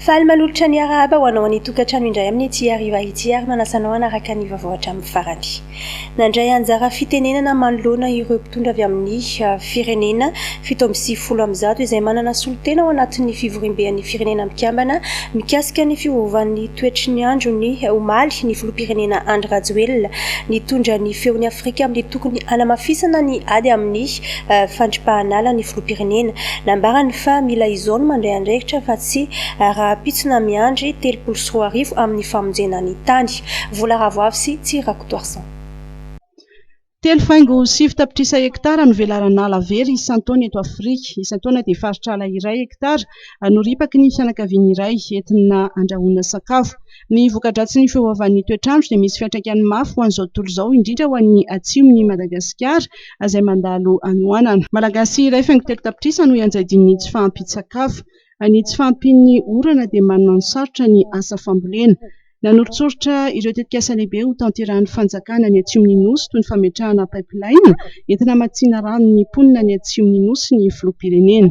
Faly manolotra ny arahaba ho anao any an-tokantrano indray amin' ity hariva ity ary manasa anao hanaraka ny vaovao hatramin'ny farany. Nandray anjara fitenenana manoloana ireo mpitondra avy amin'ny firenena fito amby sivifolo amin'ny zato izay manana solontena ao anatin'ny Fivoriamben'ny Firenena Mikambana mikasika ny fiovovan'ny toetry ny andro ny omaly ny Filoham-pirenena Andry Rajoelina nitondra ny feon'i Afrika amin'ny tokony hanamafisana ny ady amin'ny fandripahan'ala ny filoham-pirenena. Nambarany fa mila izao ny mandray andraikitra fa tsy rahampitso na miandry telopolo sy roa arivo amin'ny famonjena ny tany. Vola ravoavy sy tsy rakotoarison. Telo faingo sivy tapitrisa hektara no velaran'ala very isan-taona eto Afrika. Isan-taona dia faritr'ala iray hektara no ripaky ny fianakaviana iray entina andrahoana sakafo. Ny voka-dratsin'ny fiovaovan'ny toetr'andro dia misy fiantraikany mafy ho an'izao tontolo izao, indrindra ho an'ny atsimon'i Madagasikara izay mandalo hanoanana. Malagasy iray faingo telo tapitrisa no ianjadian'ny tsy fahampian-tsakafo. Ny tsy fahampian'ny orana dia manome ny sarotra ny asa fambolena. Nanoritsoritra ireo tetikasa lehibe ho tanterahin'ny fanjakana ny atsimon'ny Nosy toy ny fametrahana pipeline entina hamatsiana rano ny mponina any atsimon'ny Nosy ny filoham-pirenena.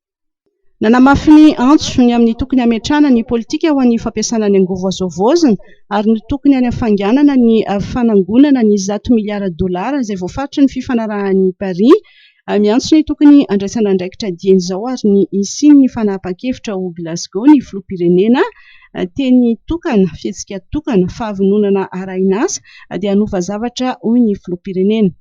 Nanamafy ny antso ny amin'ny tokony hametrahana ny politika ho an'ny fampiasana ny angovo azo havaozina ary ny tokony hanafainganana ny fanangonana ny zato miliara dolara izay voafaritry ny fifanarahan'i Paris. Miantso ny tokony handraisana andraikitra dieny izao ary ny hisian'ny fanapahan-kevitra ao Glasgow ny filoham-pirenena teny tokana, fihetsika tokana, fahavononana arahina asa dia hanova zavatra hoy ny filoham-pirenena.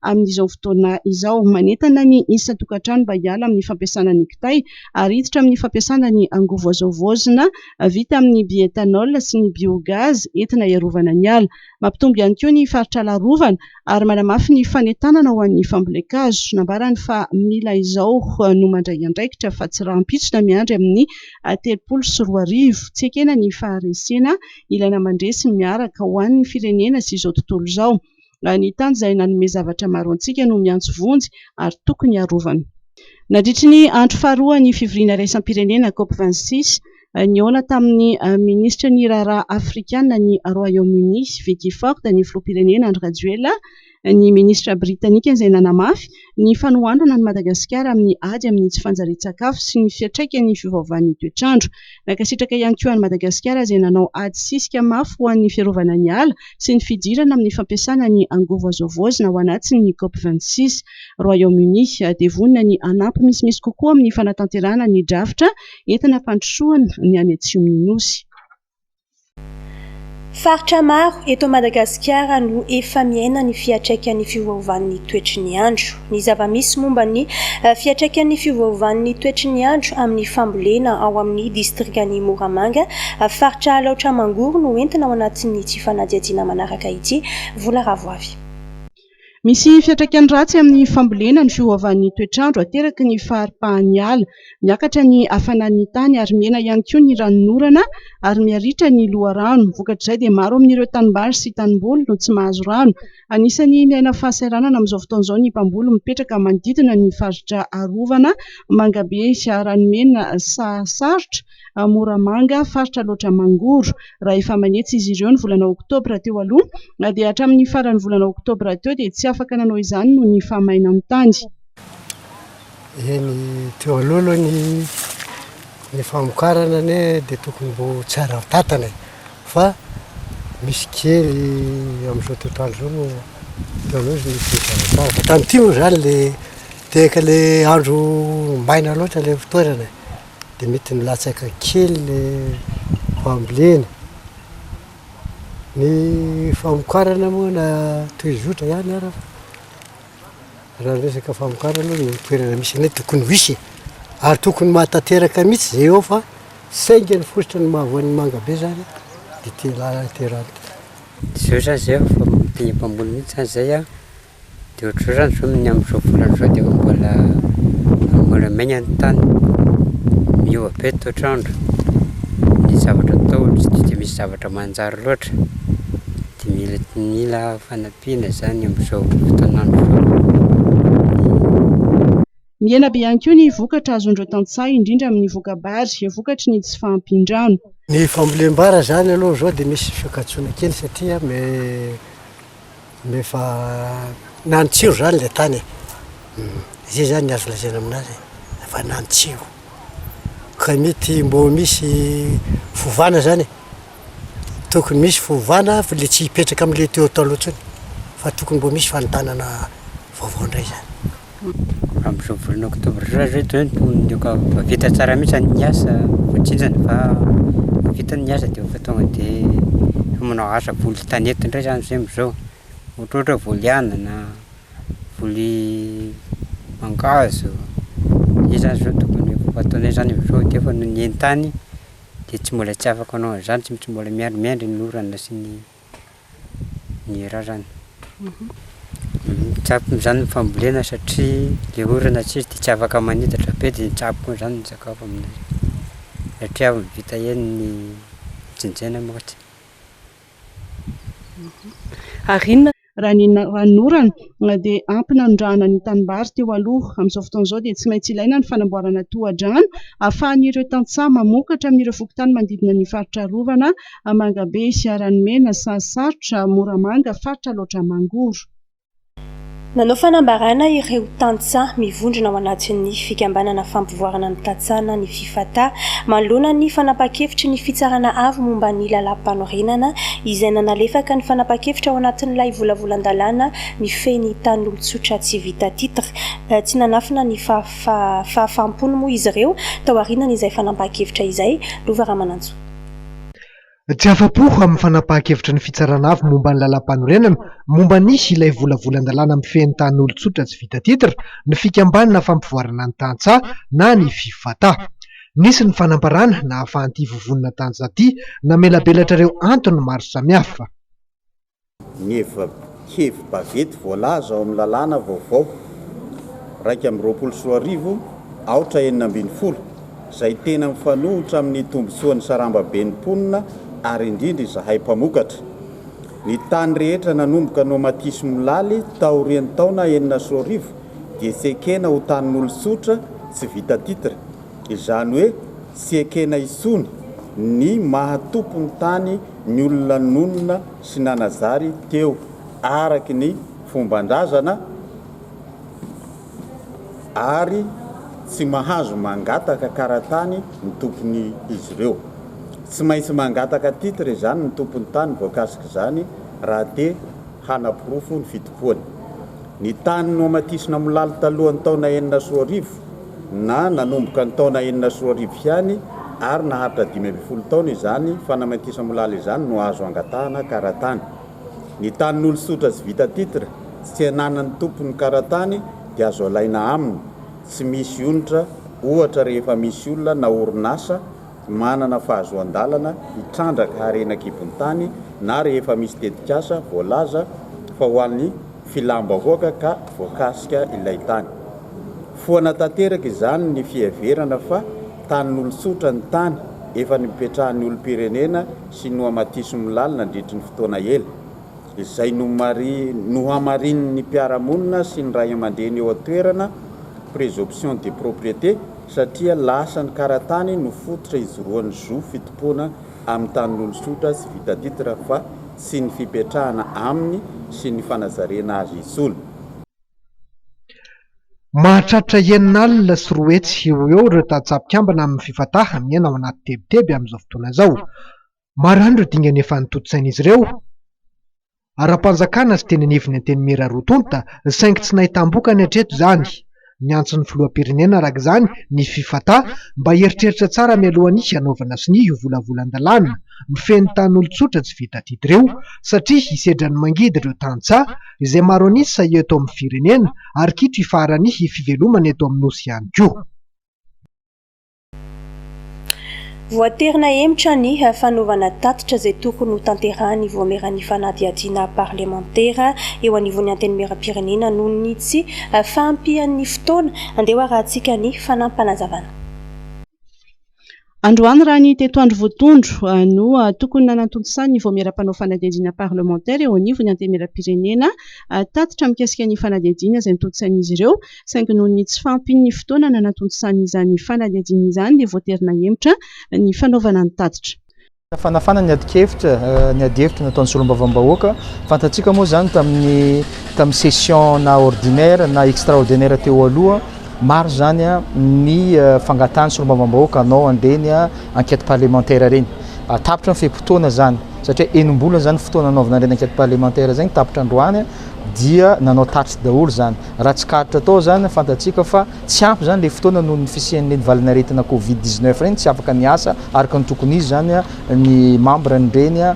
amin'izao fotoana izao. Manentana ny isan-tokantrano mba hiala amin'ny fampiasana ny kitay ary hiditra amin'ny fampiasana ny angovo azo havaozina vita amin'ny bioethanol sy ny biogaz entina hiarovana ny ala. Mampitombo ihany koa ny faritr'ala arovana ary manamafy ny fanentanana ho an'ny fambolen-kazo. Nambarany fa mila izao no mandray andraikitra fa tsy rahampitso na miandry amin'ny telopolo sy roa arivo. Tsy ekena ny faharesena ilaina mandresy miaraka ho an'ny firenena sy izao tontolo izao. raha ny tany izay nanome zavatra maro antsika no miantso vonjy ary tokony arovana. Nandritry ny andro faharoa ny fivoriana iraisam-pirenena Cop vingt six, nihaona tamin'ny minisitry ny raharaha afrikana any Royaume-Uni, Vicky Ford, ny filoham-pirenena Andry Rajoelina, ny minisitra britanika izay nanamafy ny fanohanana an'i Madagasikara amin'ny ady amin'ny tsy fanjarian-tsakafo sy ny fiantraikan'ny fiovaovan'ny toetr'andro. Nankasitraka ihany koa an'i Madagasikara izay nanao ady sisika mafy ho an'ny fiarovana ny ala sy ny fidirana amin'ny fampiasana ny angovo azo havaozina ho anatin'ny Cop vingt six, Royaume-Uni. Dia vonona ny hanampy misimisy kokoa amin'ny fanatanterahana ny drafitra entina hampandrosoana ny any atsimon'ny Nosy. Faritra maro eto Madagasikara no efa miaina ny fiantraikan'ny fiovaovan'ny toetry ny andro. Ny zava-misy momba ny fiantraikan'ny fiovaovan'ny toetry ny andro amin'ny fambolena ao amin'ny distrikan'i Moramanga, faritra Alaotra Mangoro no entina ao anatin'ity fanadihadiana manaraka ity, Vola Ravoavy. Misy fiantraikany ratsy amin'ny fambolena ny fiovaovan'ny toetr'andro ateraky ny faharipahan'ny ala. Miakatra ny hafanan'ny tany ary mena ihany koa ny ranon'orana ary miha-ritra ny loharano. Vokatr'izay dia maro amin'ireo tanimbary sy tanimboly no tsy mahazo rano. Anisan'ny miaina fahasahiranana amin'izao fotoana izao ny mpamboly mipetraka manodidina ny faritra arovana Mangabe sy Ranomena sahasarotra. ao Moramanga, faritra Alaotra Mangoro. Raha efa manetsy izy ireo ny volana oktobra teo aloha, dia hatramin'ny faran'ny volana oktobra teo dia tsy afaka nanao izany noho ny fahamainan'ny tany. Eny, teo aloha aloha ny ny famokarana anie dia tokony mbo tsy ara-batana e. Fa misy kely amin'izao toetr'andro izao no teo aloha izy nisy nizara tsara. Fa tamin'ity moa izany ilay tehaka ilay andro maina loatra ilay fitoerana e. dia mety nilatsaka kely ny fambolena, ny famokarana moa na toy zotra ihany ara fa raha ny resaka famokarana aloha ny toerana misy anay tokony ho hisy e, ary tokony ho mahatanteraka mihintsy izay eo fa saingy ny fositra no mahavoa ny manga be zany dia ity lalana ity raha ity. Tsy eo zany izay aho fa mpamboly mihintsy zany izay aho Dia ohatr'izany izao ny amin'izao volana izao dia efa mbola mbola maina ny tany, miova be ny toetr'andro, ny zavatra atao tsy dia dia misy zavatra manjary loatra, dia mila mila fanampiana izany amin'izao fotoan'andro izao. Mihena be ihany koa ny vokatra azon'ireo tantsaha, indrindra amin'ny voka-bary, vokatry ny tsy fahampian-drano. Ny fambolem-bary izany aloha izao dia misy fiankatsona kely satria me me efa nantsiro izany ilay tany e. Izay izany ny azo lazaina aminazy e, efa nantsiro. Ka mety mbo misy fovana izany e. tokony misy fiovana fa le tsy hipetraka amle teo taloha tsony fa tokony mbo misy fanontanana vaovao ndray zany. Amzao volana octobre zao zay de efa vita tsara mihitsy zany ny asa fa tsinjany fa vita ny asa de efa tonga de efa manao asa voly tanety ndray zany zay amzao ohatrohatra voly anana, voly mangahazo, zay zany zao tokony efa ataonay zany amzao de efa nenentany. dia tsy mbola tsy afaka hanao an'izany, tsy tsy mbola miandry miandry ny orana sy ny ny rarany. Mitsabo amin'izany ny fambolena satria ilay orana tsy izy dia tsy afaka manitatra be dia mitsabo koa izany ny sakafo amin'izay satria avy vita eny ny jinjaina manko tsy. Ary inona Raha ny ranonorana dia ampy nanondrahana ny tanimbary teo aloha. Amin'izao fotoana izao dia tsy maintsy ilaina ny fanamboarana tohadrano ahafahan'ireo tantsaha mamokatra amin'ireo fokontany manodidina ny faritra arovana, Mangabe, Siaranomena, Sahasarotra, Moramanga, faritra Alaotra Mangoro. Nanao fanambarana ireo tantsaha mivondrona ao anatin'ny fikambanana fampivoarana ny tantsaha na ny. Fata, manoloana ny fanapahan-kevitry ny Fitsarana Avo momba ny Lalàm-panorenana, izay nanalefaka ny fanapahan-kevitra ao anatin'ilay volavolan-dalàna mifehy ny tanin'olon-tsotra tsy vita titre. Tsy nanafina ny fahafaham-pony moa izy ireo, taorianan'izay fanapahan-kevitra izay, Lova Ramanantsoa. Tsy afa-po amin'ny fanapahan-kevitry ny Fitsarana Avo momba ny Lalàmpanorenana momba ny ilay volavolan-dalàna mifehy ny tanin'olon-tsotra tsy vita titre ny Fikambanana Fampivoarana ny Tantsaha na ny Fivata. Nisy ny fanambarana nahafahan'ity vovonana tantsaha ity namelabelatra ireo antony maro samihafa. ny hevi-bavety voalaza ao amin'ny lalàna vaovao iraika amby roapolo sy roa arivo, aotra enina ambin'ny folo, izay tena mifanohitra amin'ny tombontsoan'ny sarambaben'ny mponina ary indrindra izahay mpamokatra. Ny tany rehetra nanomboka nomatisy molaly taorian'ny taona enina sy roa arivo dia tsy ekena ho tanin'olon-tsotra tsy vita titre. Izany hoe tsy ekena intsony ny maha tompon'ny tany ny olona nonina sy nanazary teo araky ny fomban-drazana ary tsy mahazo mangataka karatany ny tompon'izy ireo. Tsy maintsy mangataka titre izany ny tompon'ny tany voakasik'izany raha te hanaporofo ny fitompoany. Ny tany nohamatisina molaly talohan'ny taona enina sy roa arivo, na nanomboka ny taona enina sy roa arivo ihany ary naharitra dimy ambin'ny folo taona izany fanamaintisamolala izany no azo angatahana karatany. Ny tanin'olo tsotra tsy vita titre, tsy ananan'ny tompony karatany dia azo alaina aminy, tsy misy onitra ohatra rehefa misy olona na orinasa manana fahazoan-dalana hitrandraka harena an-kibon-tany na rehefa misy tetikasa voalaza fa ho an'ny filam-bahoaka ka voakasika ilay tany. Foana tanteraka izany ny fiheverana fa tanin'olon-tsotra ny tany efa nipetrahan'ny olom-pirenena sy nohamatisim lal nandritry ny fotoana ela, izay nohamarinin'ny mpiara-monina sy ny ray aman-dreny eo an-toerana, présomption de propriété, satria lasa ny karatany no fototra hijoroan'ny zo fitompoana amin'ny tanin'olontsotra sy vita titre fa tsy ny fipetrahana aminy sy ny fanazarena azy intsony. Mahatratra enina alina sy roa hetsy eo ho eo ireo tantsaha mpikambana amin'ny Fifatah miaina ao anaty tebiteby amin'izao fotoana izao. Maro ihany ireo dingana efa notontosain'izy ireo ara-panjakana sy teny anivon'ny Antenimiera roa tonta saingy tsy nahitam-bokany hatreto izany. Niantso ny Filoham-pirenena araka izany ny Fifata mba hieritreritra tsara mialoha ny hanaovana sonia io volavolan-dalàna mifehy ny tanin'olon-tsotra tsy vita adidy ireo satria hisedra ny mangidy ireo tantsaha izay maro an'isa eto amin'ny firenena ary kitro hifaharan'ny fivelomana eto amin'ny Nosy ihany koa. Voatery nahemotra ny fanaovana tatitra izay tokony ho tanterahin'ny Vaomieran'ny fanadihadiana parlemantera eo anivon'ny Antenimierampirenena noho ny tsy fahampian'ny fotoana. Andeha ho arahintsika ny fanampanazavana. Androany raha ny teto andro voatondro no tokony nanantontosain'ny Vaomiera mpanao fanadihadiana parlemantera eo anivon'ny Antenimierampirenena tatitra mikasika ny fanadihadiana izay notontosain'izy ireo saingy noho ny tsy fahampian'ny fotoana nanatontosany izany fanadihadiana izany dia voatery nahemotra ny fanaovana ny tatitra. Nafanafana ny adin-kevitra, ny adihevitra nataon'ny solombavambahoaka. Fantatsika moa izany tamin'ny tamin'ny session na ordinaire na extraordinaire teo aloha, maro izany ny fangatahan'ny solombavambahoaka hanao an'ireny enquête parlementaire ireny. Tapitra ny fe-potoana izany, satria enim-bolana izany ny fotoana nanaovana an'ireny enquête parlementaire izay, tapitra androany dia nanao tatitra daholo izany. Raha tsikaritra tao izany, fantatsika fa tsy ampy izany ilay fotoana noho ny fisian'ireny valin'aretina covid dix neuf ireny, tsy afaka niasa araka ny tokony izy izany ny mambran'ireny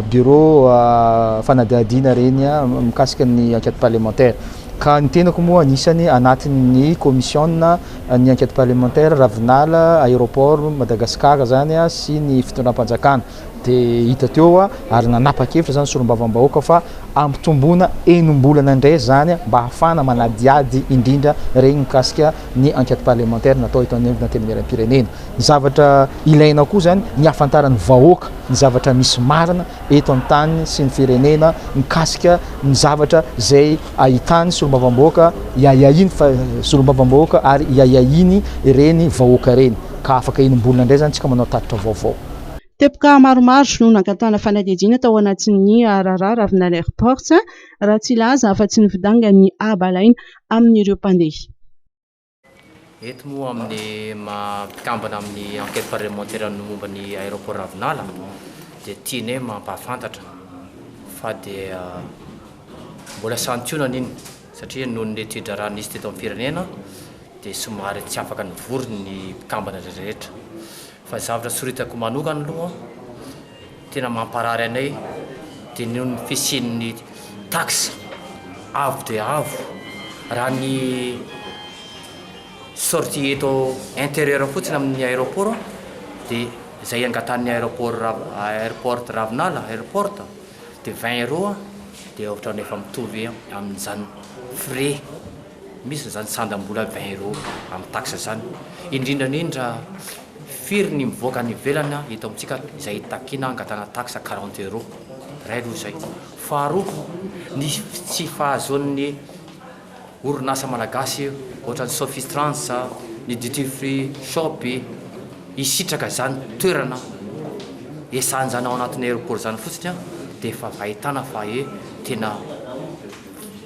birao fanadihadiana ireny mikasika ny enquête parlementaire. Ka ny tenako moa anisany anatin'ny kaomisiona ny enquête parlementaire, Ravinala, Aéroport, Madagascar izany sy ny fitondram-panjakana. Dia hita teo hoa ary nanapa-kevitra izany solombavambahoaka fa hampitomboana enim-bolana indray izany mba hahafahana manadihady indrindra ireny mikasika ny enquête parlementaire natao eto amin'ny antenimieram-pirenena. Ny zavatra ilaina koa izany ny hahafantaran'ny vahoaka ny zavatra misy marina eto amin'ny tany sy ny firenena mikasika ny zavatra izay ahitany solombavambahoaka iahiahiny fa solombavambahoaka ary iahiahiny ireny vahoaka ireny ka afaka enim-bolana indray izany isika manao tatitra vaovao. Teboka maromaro no nangatahana fanadihadiana tao anatin'ny raharaha Ravinala Airport raha tsy hilaza afa-tsy ny fidangan'ny haba alaina amin'ireo mpandeha. Eto moa amin'ny maha mpikambana amin'ny Enquête parlementaire ny momba ny Aéroport Ravinala dia tianay mampahafantatra fa dia mbola santionany iny. satria noho ny tsodrano nisy teto amin'ny firenena dia somary tsy afaka nivory ny mpikambana rehetra fa ny zavatra soritako manokana aloha tena mamparary anay dia noho ny fisian'ny taxe avo dia avo raha ny sortie eto intérieur fotsiny amin'ny aéroport dia izay angatahan'ny aéroport airport ravinala airport de vingt euros de ohatrany efa mitovy amin'izany frais misy zany sandam-bola vingt euros amin'ny taxe zany indrindra indrindra firy ny mivoaka any ivelany an eto amintsika izay hitakiana hangatahana taxe quarante euros iray aloha izay faharoa ny tsy fahazoan'ny orinasa malagasy ohatran'ny Sophie Trans, ny Duty Free Shop hisitraka izany toerana hiasany izany ao anatin'ny aéroport izany fotsiny dia efa ahitana fa hoe tena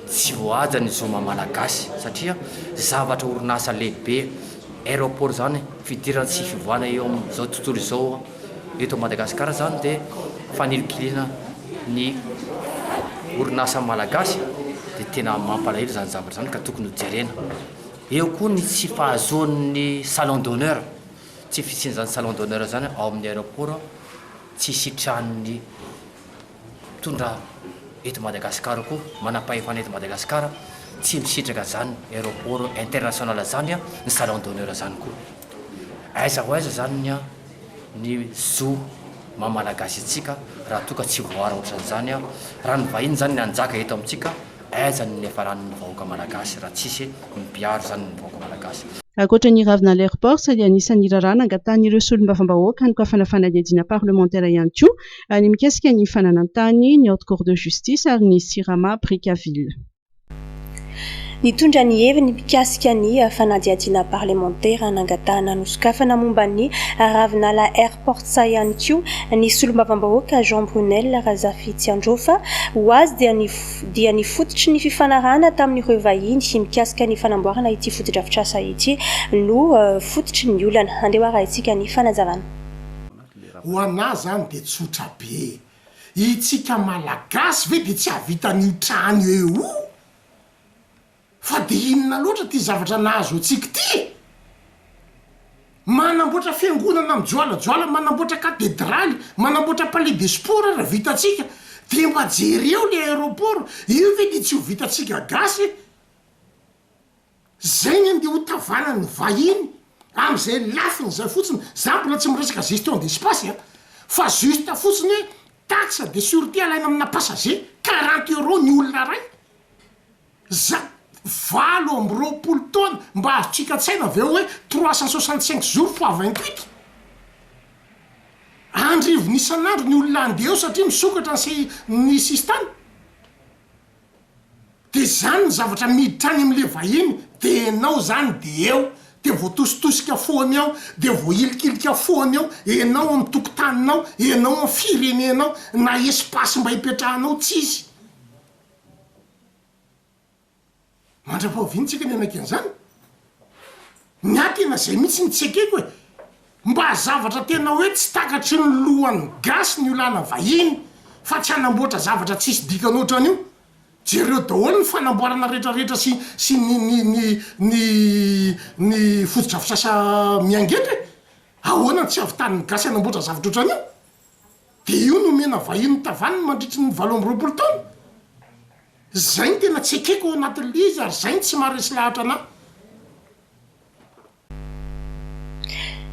tsy voahaja ny zo maha-malagasy satria zavatra orinasa lehibe aéroport izany fidirana sy fivoahana eo amin'izao tontolo izao. Eto Madagasikara izany dia fanilinkiliana ny orinasa malagasy dia tena mampalahelo izany zavatra izany ka tokony ho jerena. Eo koa ny tsy fahazoan'ny salon d'honneur, tsy fisian'izany salon d'honneur izany ao amin'ny aéroport, tsy sitranin'ny. mpitondra eto Madagascar koa manam-pahefana eto Madagascar tsy misitraka zany aeroport international zany ny salon d'honneur zany koa aiza ho aiza zany ny ny zo maha malagasy antsika raha toa ka tsy voara ohatrany zany raha ny vahiny zany ny hanjaka eto amintsika aiza ny niafarany ny vahoaka malagasy raha tsisy mpiaro zany ny vahoaka malagasy. Ankoatra ny ravinala airports dia anisan'ny raharaha nangatahan'ireo solombavambahoaka ny koafana fanadihadiana parlemantera ihany koa Ny mikasika ny fananantany, ny Haute Cour de Justice ary ny Sirama Brickaville. Nitondra ny heviny mikasika ny fanadihadiana parlemantera nangatahana nosokafana momba ny Ravinala Airport sahy ihany koa ny solombavambahoaka Jean Brunelle Razafitsiandrofa. Ho azy dia ny dia ny fototry ny fifanarahana tamin'ireo vahiny mikasika ny fanamboarana ity fotodrafitrasa ity no fototry ny olana. Andeha ho arahintsika ny fanazavana. Ho anah zany de tsotra be e! Itsika malagasy ve de tsy ahavita an'io trano eo io? Fa de inona loatra ty zavatra nahazo antsika ty e! Manamboatra fiangonana mijoalajoala, manamboatra katedraly, manamboatra palais de sport ary vitantsika, de mba jereo le aeroport, io ve de tsy ho vitantsika gasy e! Zay ny andeha hotavanan'ny vahiny am'zay lafiny zay fotsiny, za mbola tsy miresaka gestion d'espace a, fa juste fotsiny hoe taxe de surete alaina amina passager, quarante euros ny olona ray, za valo amby roapolo taona mba azotsika an-tsaina ve hoe trois cent soixante cinq jours fois vingt huit? Andrivony isan'andro ny olona andeha eo satria misokatra ny se- ny sisintany. De zany ny zavatra miditra any amle vahiny de enao zany de eo de voatositosika foana eo de voahilikilika foana eo enao am tokotaninao enao am firenenao na espace mba hipetrahanao tsisy mandra-pahaviantsika ny hanaky anzany. Miankina izay mihitsy ny tsy ekeko e! Mba zavatra tena hoe tsy takatry ny lohan'ny gasy ny olana vahiny fa tsy hanamboatra zavatra tsisy dikany ohatran'io. Jereo daholo ny fanamboarana rehetra rehetra sy sy ny ny ny ny ny fotodrafisasa miangetra e! Ahoana no tsy havitan'ny gasy hanamboatra zavatra ohatran'io? De io no omena vahiny tavaniny mandritry ny valo amby roapolo taona? Zay ny tena tsy ekeko ao anatin'ilay izy ary zay no tsy maharesy lahatra anah.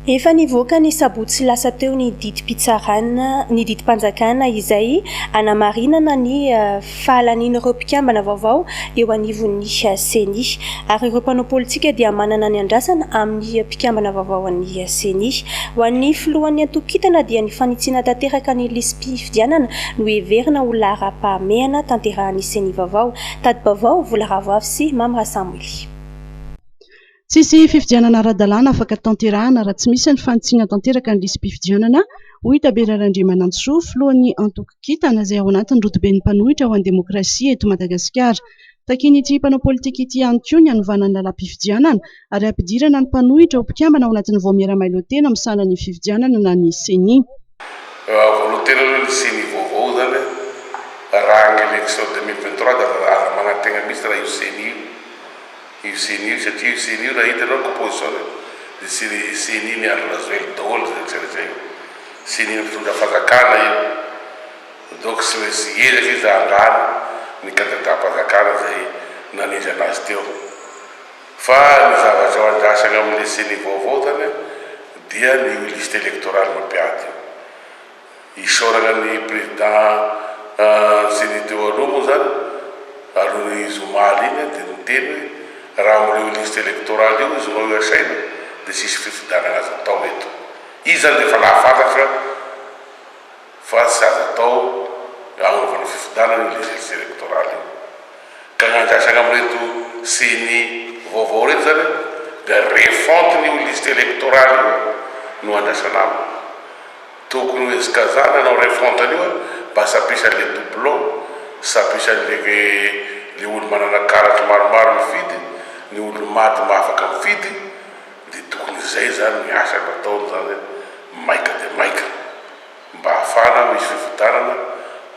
Efa nivoaka ny sabotsy lasa teo ny didim-pitsarana, ny didim-panjakana izay hanamarinana ny fahalanian'ireo mpikambana vaovao eo anivon'ny Ceni. Ary ireo mpanao politika dia manana ny andrasana amin'ny mpikambana vaovao an'ny Ceni. Ho an'ny filohan'ny antokon-kintana dia ny fanitsiana tanteraka ny lisi-. fifidianana no heverina ho laharam-pahamehana tanterahan'ny Ceni vaovao. Tati-baovao, Vola Ravoavy sy Mamy Rasamily. Tsisy fifidianana ara-dalàna afaka tanterahana raha tsy misy ny fanitsiana tanteraka ny lisi-pifidianana, hoy Tabera Randriamanantsoa, filohan'ny antoko Kintana, izay ao anatin'ny rodoben'ny mpanohitra ho an'ny demokrasia eto Madagasikara. Takian'ity mpanao politika ity ihany koa ny hanovana ny lalam-pifidianana ary hampidirana ny mpanohitra ho mpikambana ao anatin'ny Vaomiera Mailhotena misahana ny fifidianana na ny Ceni. Volotenana ny Ceni vaovao izany raha ny election deux mille vingt trois dia aza manantegna mihitsy raha io Ceni io io Ceni io satria io Ceni io raha hita ianao ny composition-ny dia tsy ny Ceni-n'i Andry Rajoelina daholo izay tsy resahina Ceni-n'ny fitondram-panjakana io. Doc sy hoe tsy ezaka izy handalo ny kandidam-panjakana izay nanendry anazy teo. Fa ny zavatra ao andrasana ao amin'ilay ceni vaovao zany dia ny io liste electorale mampiady io. Isaorana ny président ceni teo aloha moa zany aloha ny zoma iny dia niteny hoe raha amin'ireo liste electorale io izy no asaina dia tsisy fifidianana azo atao eto. Izy zany dia efa nahafantatra. fa tsy azo atao ny hanaovana io fifidianana io legisy elektoraly io. Ka ny andraisana amin'ireto ceni vaovao ireto izany dia refonte an'io liste elektoraly io no andraisana aminy. Tokony hohezikazana ny hanao refonte an'io mba sapisan'ilay doublon, sapisan'ilay ilay olo-manana karatra maromaro mifidy, ny olo-maty maha afaka mifidy, Dia tokony izay izany ny asa nataony izany maika dia maika mba hahafahana misy fifidianana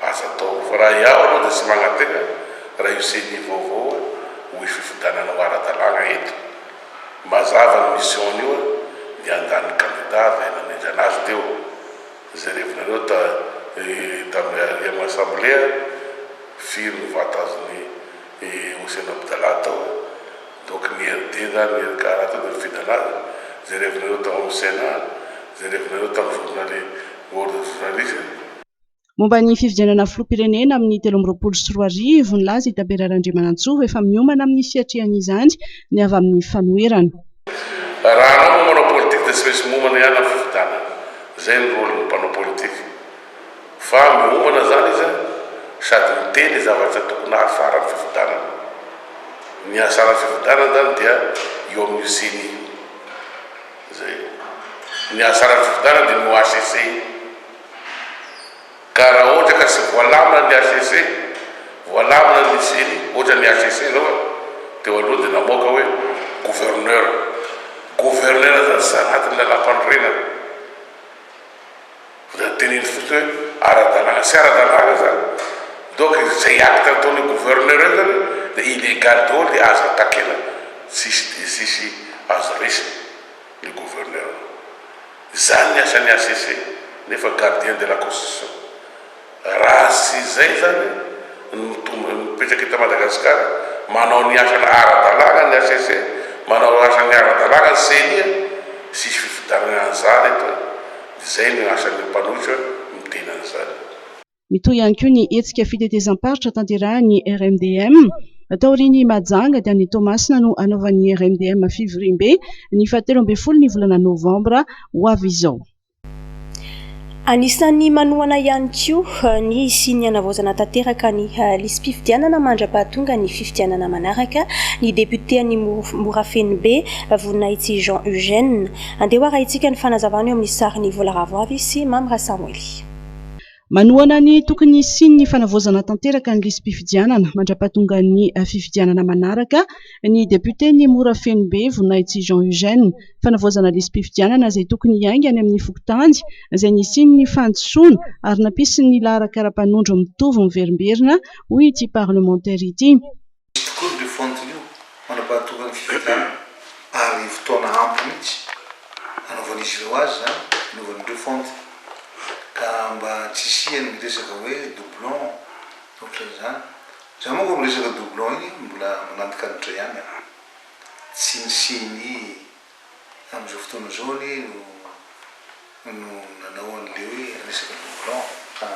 azo atao. Fa raha iaho aloha dia tsy magnatena raha io ceni vaovao hoe hoy fifidianana ho ara-dalàna eto. Mazava ny mission an'io dia handà ny candidat avy any namendry anazy teo. Izay revinareo ta tamin'ny alliement assemblée firy ny vote azon'i Hossein Abdallah tao? Toky ny hery dia na ny hery kara tao dia ny fidalana, izay revinareo tao amin'ny Sénat, izay revinareo tamin'ny journaly World Journalism. Momba ny fifidianana filoham-pirenena amin'ny telo amby roapolo sy roa arivo, nilaza i Tabera Randriamanantsoa ho efa miomana amin'ny fiatrihan'izany ny avy amin'ny fanoherana. Raha anao no manao politika dia tsy maintsy miomana ihany amin'ny fifidianana. Izay no rôlin'ny mpanao politika. Fa miomana izany izy sady miteny zavatra tokony hahafaran'ny fifidianana. Ny nihasaran'ny fifidianana izany dia io amin'io ceni io. Izay. Ny nihasaran'ny fifidianana dia ny HCC io. Ka raha ohatra ka tsy voalamina ny HCC, voalamina ny ceni, ohatra ny HCC izao e, teo aloha dia namoaka hoe gouverneur. Gouverneur izany tsy anatin'ny lalàmpanorenana. Dia teneno fotsiny hoe ara-dalàna, tsy ara-dalàna zany, donc zay acte ataon'io gouverneur io zany dia illégal daholo dia aza takena, tsisy dia tsisy azo resiny le gouverneur, zany ny asan'ny HCC nefa gardien de la constitution. Raha tsy izay izany no mitombo, mipetraka eto Madagasikara, manao ny asany ara-dalàna ny HCC, manao asany ara-dalàna ny Ceni an! Tsisy fifidianana an'izany eto an! Izay no asan'ny mpanohitra miteny an'izany. Mitohy ihany koa ny hetsika fitetezam-paritra tanterahin'ny RMDM. Taorian'i Mahajanga dia any Toamasina no hanaovan'ny RMDM fivoriambe, ny fahatelo ambin'ny folo ny volana novambra ho avy izao. Anisan'ny manohana ihany koa ny hisian'ny hanavaozana tanteraka ny lisi-pifidianana mandra-pahatonga ny fifidianana manaraka ny depioten'i Morafenobe, Voninahitsy Jean Eugène. Andeha ho arahintsika ny fanazavana eo amin'ny sarin'i Vola Ravoavy sy Mamy Rasamoily. Manohana ny tokony hisian'ny fanavaozana tanteraka ny lisi-pifidianana mandrapahatongan'ny fifidianana manaraka ny depioten'i Morafenobe, Voninahitsy Jean Eugène. Fanavaozana lisi-pifidianana izay tokony hiainga any amin'ny fokontany izay nisian'ny fandisoana ary nampisy ny laharan-karapanondro mitovy miverimberina, hoy ity parlemantera ity. Misy tokoa ny refonte io manam-pahatonga ny fifidianana ary fotoana ampy mihitsy hanaovan'izy ireo azy izany hanaovany ny refonte ka mba tsy hisian'ny resaka hoe doublon ohatran'izany. Za manko amin'ny resaka doublon iny mbola manantikanitra ihany aho. Tsy ny ceni Amin'izao fotoana izao anie no no nanao an'ilay hoe resaka don blanc ka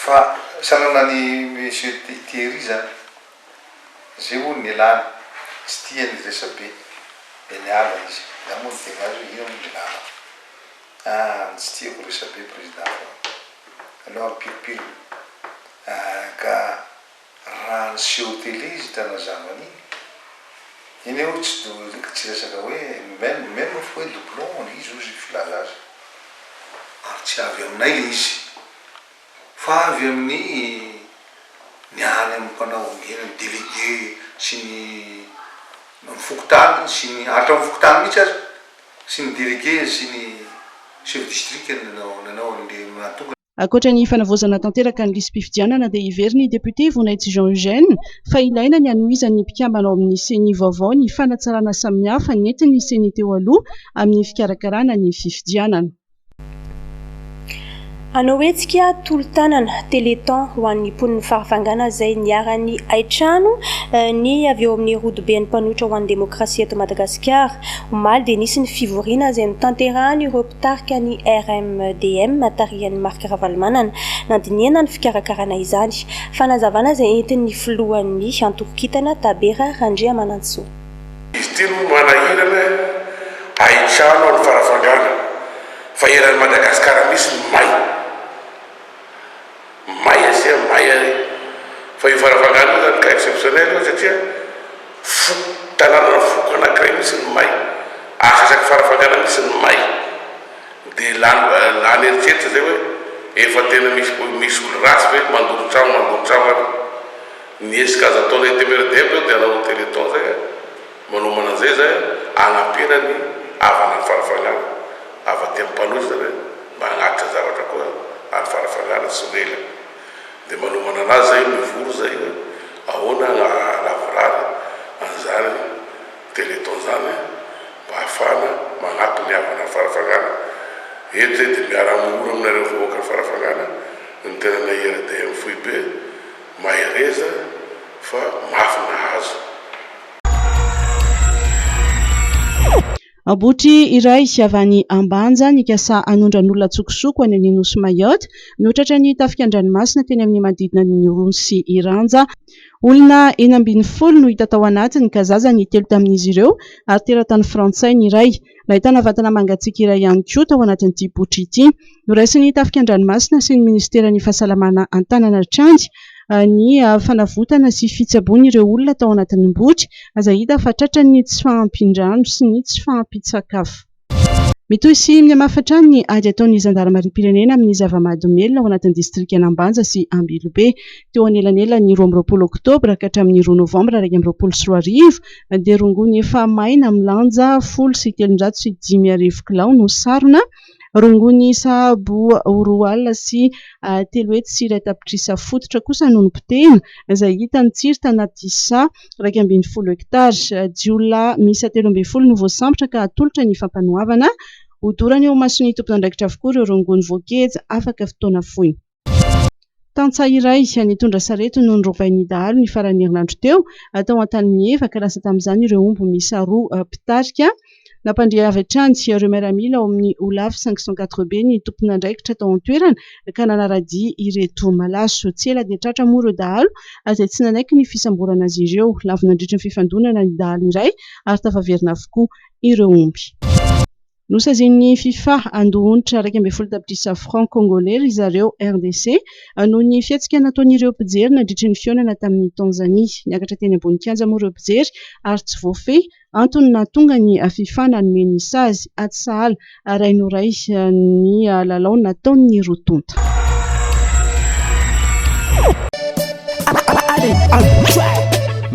fa sanana an'i Monsieur Thierry zany. Zay hono ny ialany, tsy tia ny resabe dia niala izy. Za moa niteny azy hoe ino moa le lala fa an tsy tiako resabe président fa aleo ampiripirina an ka. Raha niseho télé izy tanazavana iny. Iny aho tsy do tsy resaka hoe même même fa hoe doublon le izy ozy filaza azy. Ary tsy avy aminay le izy fa avy amin'ny ny any amin'ny mpanao eny amin'ny délégué sy ny amin'ny fokontany sy ny hatramin'ny fokontany mihitsy aza sy ny délégué sy ny chef district no nanao an'le mahatonga Ankoatra ny fanavaozana tanteraka ny lisi-pifidianana dia heverin'ny depiote Vonaizy Jean Eugène fa ilaina ny hanohizan'ny mpikambana ao amin'ny ceni vaovao ny fanatsarana samihafa nentin'ny ceni teo aloha amin'ny fikarakarana ny fifidianana. Hanao hetsika tolo-tanana, téléthon, ho an'ny mponin'i Farafangana izay niharan'ny haitrano ny avy eo amin'ny rodoben'ny mpanohitra ho an'ny demokrasia eto Madagasikara. Omaly dia nisy ny fivoriana izay notanterahan'ireo Tarika ny RMDM tarihan'i Marc Ravalomanana nandinihana ny fikarakarana izany. Fanazavana izay entin'ny filohan'ny antoko kintana Tabera Randriamanantsoa. Izy ity no manahirana ahitrano any Farafangana fa eran'i Madagasikara misy ny may. may asia may ary fa io Farafangana io zany cas exceptionnel io satria foko tananana foko anakiray mihitsy ny may asa asaky Farafangana mihitsy ny may de lany lany eritreritra zay hoe efa tena misy misy olo ratsy ve mandoro tragno mandoro tragno ary ny hetsika azo atao zay demeure demeure zao de hanao teleton zay a. Manomana an'izay izahay hanampiana ny havana any Farafangana. Avy aty Ampanohy izany hoe mba hagnatitra zavatra koa any Farafangana tsy ho ela. Dia manomana an'azy izahay mivory izay hoe ahoana hanavorary an'izany Téléthon izany mba hahafahana magnampy ny havana any Farafangana. Eto izahay dia miara-mihora aminareo vahoakan'i Farafangana, ny tenanay IRDM foibe, mahereza fa mafy nahazo. Botry iray avy any Ambanja nikasa hanondran'olona an-tsokosoko any amin'ny nosy Mayotte no tratran'ny tafika an-dranomasina teny amin'ny manodidina ny nosy Iranja. Olona enina ambin'ny folo no hita tao anatiny ka zaza ny telo tamin'izy ireo ary teratany frantsay ny iray. Nahitana vatana mangatsiaka iray ihany koa tao anatin'ity botra ity. Noraisin'ny tafika an-dranomasina sy ny ministeran'ny fahasalamana an-tanana hatrany ny fanavotana sy fitsaboana ireo olona tao anatin'ny botra izay hita fa tratran'ny tsy fahampian-drano sy ny tsy fahampian-tsakafo. Mitohy sy mihamafa hatrany ny ady ataon'ny zandarimariam-pirenena amin'ny zava-mahadomelina ao anatin'ny distrikan'Ambanja sy Ambilobe. Teo anelanelan'ny roa amby roapolo oktobra ka hatramin'ny roa novambra iraika amby roapolo sy roa arivo, Andeha rongony efa maina milanja folo sy telonjato sy dimy arivo kilao no sarona. Rongony sahabo ho roa alina sy telo hetsy sy iray tapitrisa fototra kosa no nopotehina, izay hita ny tsiry tanaty saha iraika ambin'ny folo hektara. Jiolahy miisa telo ambin'ny folo no voasambotra ka hatolotra ny fampanoavana. Hodorana eo imason'ny tompon'andraikitra avokoa ireo rongony voageja afaka fotoana fohy. Tantsaha iray nitondra sarety no norobain'ny dahalo ny faran'ny herinandro teo, tao Antanimievaka. Lasa tamin'izany ireo omby miisa roa mpitarika. Nampandre avy hatrany ireo miaramila ao amin'ny Olaf 504B ny tomponandraikitra tao an-toerana ka nanara-dia ireto malaso. Tsy ela dia tratra moa ireo dahalo izay tsy nanaiky ny fisamborana azy ireo. Lavo nandritra ny fifandonana ny dahalo iray ary tafaverina avokoa ireo omby. Nosazian'ny Fifa handoa onitra iraika ambin'ny folo tapitrisa francs kongoley ry zareo, RDC, noho ny fihetsika nataon'ireo mpijery nandritry ny fihaonana tamin'i Tanzania. Niakatra teny ambony kianja moa ireo mpijery ary tsy voafehy, antony nahatonga ny Fifa nanome ny sazy. Atsy sahala, rainoraiky ny lalao nataon'ny roa tonta.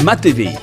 Matv.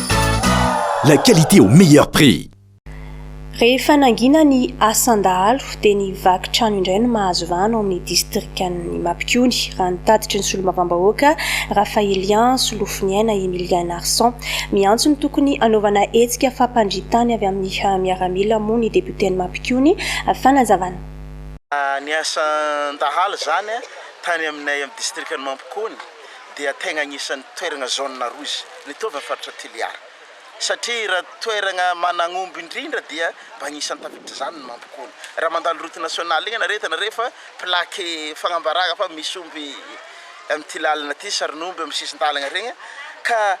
La qualité au meilleur prix. Rehefa nangina ny asan-dahalo dia ny vaky trano indray no mahazo vahana ao amin'ny distrikan'i Mapikony, raha ny tatitry ny solombavambahoaka Raphaelien Solofoniaina Emilien Narson. Miantso ny tokony hanaovana hetsika fampandrian-tany avy amin'ny miaramila moa ny depioten'i Mapikony. Fanazavana. Ny asan-dahalo izany tany aminay amin'ny distrikan'i Mampikony. dia tegna agnisan'ny toeragna zone rouge mitovy amin'ny faritra Toliara satria raha toeragna managnomby indrindra dia mba agnisan'ny tafitr'izany ny Mampikony. Raha mandalo route nationale igny anareo hitanareo fa plaque fagnambaragna fa misy omby amin'ity lalagna ty, sarin'omby amin'ny sisin-dalagna regny ka.